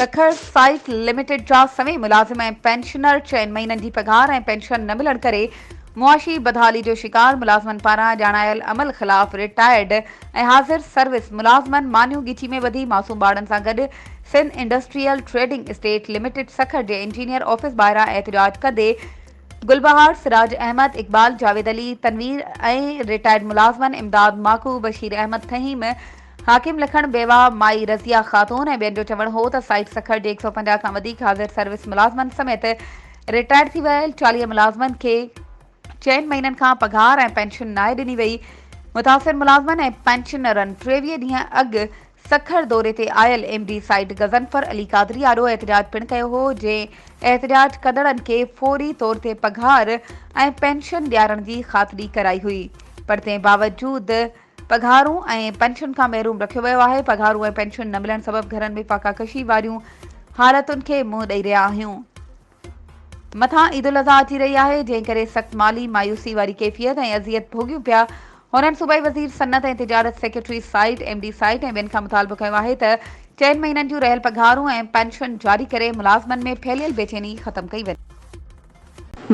Sukkur site limited جا سوين ملازم ۽ پينشنر چئن مهينن جي پگهار ۽ پينشن نه ملڻ ڪري معاشي بدحالي جو شڪار ملازمن پاران ڄاڻايل عمل خلاف رٽائرڊ ۽ حاضر سروس ملازمن مانيون ڳچي ۾ ٻڌي معصوم ٻارڙن سان گڏ Sindh industrial trading estate limited Sukkur جي انجنيئر آفيس ٻاهران احتجاج ڪندي گل بهار، سراج احمد، اقبال، جاويد علي، تنوير ۽ رٽائرڊ ملازمن امداد ماڪو، بشير احمد فهيم، حاڪم لکڻ، بيواهه مائي رضيه خاتون ۽ ٻين جو چوڻ هو ته سائيٽ سکر جي هڪ سؤ پنجاهه کان وڌيڪ حاضر سروس ملازمن سميت رٽائرڊ ٿي ويل چاليهه ملازمن کي چئن مهينن کان پگهار ۽ پينشن ناهي ڏني وئي، متاثر ملازمن ۽ پينشنرن ٽيويهه ڏينهن اڳ سکر دوري تي آيل ايم ڊي سائيد غضنفر علي قادري آڏو احتجاج پڻ ڪيو هو جنهن احتجاج ڪندڙن کي فوري طور تي پگهار ۽ پينشن ڏيارڻ جي خاطري ڪرائي هئي پر تنهن باوجود پگهارون ۽ پينشن کان محروم رکيو ويو آهي پگهارون ۽ پينشن نه ملڻ سبب گهرن ۾ فاقا ڪشي واريون حالتن کي منهن ڏئي رهيا آهيون مٿان عيد الاضحيٰ اچي رهي آهي، جنهن ڪري سخت مالي مايوسي واري ڪيفيت ۽ اذيت ڀوڳيون پيا. هنن صوبائي وزير صنعت ۽ تجارت، secretary site, M D site ۽ ٻين کان مطالبو ڪيو آهي ته چئن مهينن جون رهيل پگهارون ۽ پينشن جاري ڪري ملازمن ۾ ڦهليل بيچيني ختم ڪئي وڃي.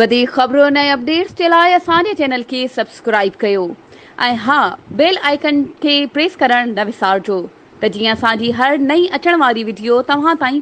وڌيڪ خبرن ۽ اپڊيٽس جي لاء اسان جي چينل کي سبسڪرائيب ڪيو ۽ ها بيل آئيڪن کي پريس ڪرڻ نه وسارجو ته جيئن اسان جي هر نئين اچڻ واري وڊيو توهان تائين